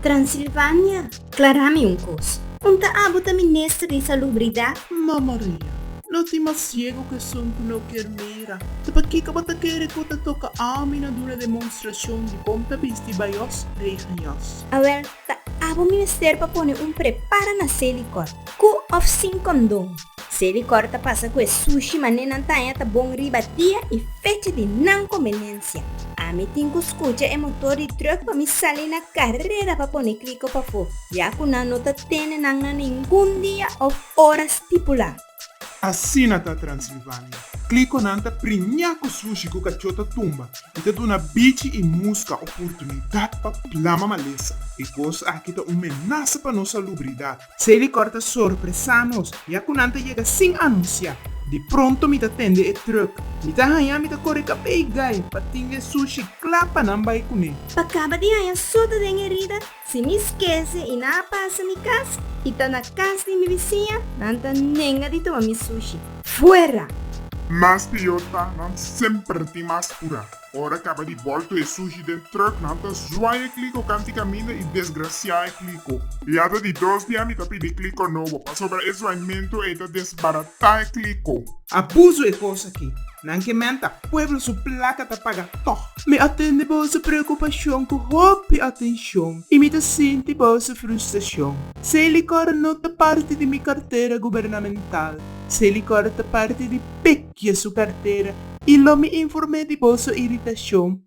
Transilvania, Klará mi un kos. Un ta abo ta minister di salubridat? Ma Maria, lo tin mas siego ku esun ku no kier mira. Ta pakiko bo ta kere ku ta toka ami na duna demonstrashon di kon ta bisti bayos, rei haños? Awèl, Ta abo mester pa pone un prepara na seli kòr, ku òf sin kondon. Seli kòr ta pasa ku e sushi manera nan taña ta bon riba dia i fecha di nan konbeniensia. Ami tin ku skucha e motor di trùk pa mi sali na karera pa pone kliko pafó, ya ku nan no ta tene nan na ningun dia òf ora stipulá. Asina ta Transilvania. Klikonan ta priñá ku sushi ku kachó ta tumba i ta duna bichi i muska oportunidat pa plama malesa. E kos aki ta un menasa pa nos salubridat. Si e likòr ta sorpresá nos, ya ku nan ta yega sin anunsiá. Di pronto mi ta tende e trùk. Mi ta haña mi ta kore kabei gai pa tinga e sushi kla pa nan bai kuné. Pa kaba di haña sota den e herida, Si mi skese i nan a pasa mi kas i ta na kas di mi bisiña, nan ta nenga di tuma mi sushi. Fuera! Mas pior ta, nan semper tin mas pura. Ora kaba di bolto e sushi den trùk, nan ta zwaai e kliko kanti kaminda i desgrasiá e kliko. Yata di dos dia mi ta pidi kliko nobo, pasobra e zwaimentu ei ta desbaratá e kliko. Abuso e kos aki. Nan ke menta, pueblo su plaka ta paga tog. Mi a tende boso preokupashon ku hopi atenshon i mi ta sinti boso frustrashon. Si e likor no ta parti di mi kartera gubernamental, si e likor ta parti di Pekya su kartera i lo mi inform'é di boso iritashon,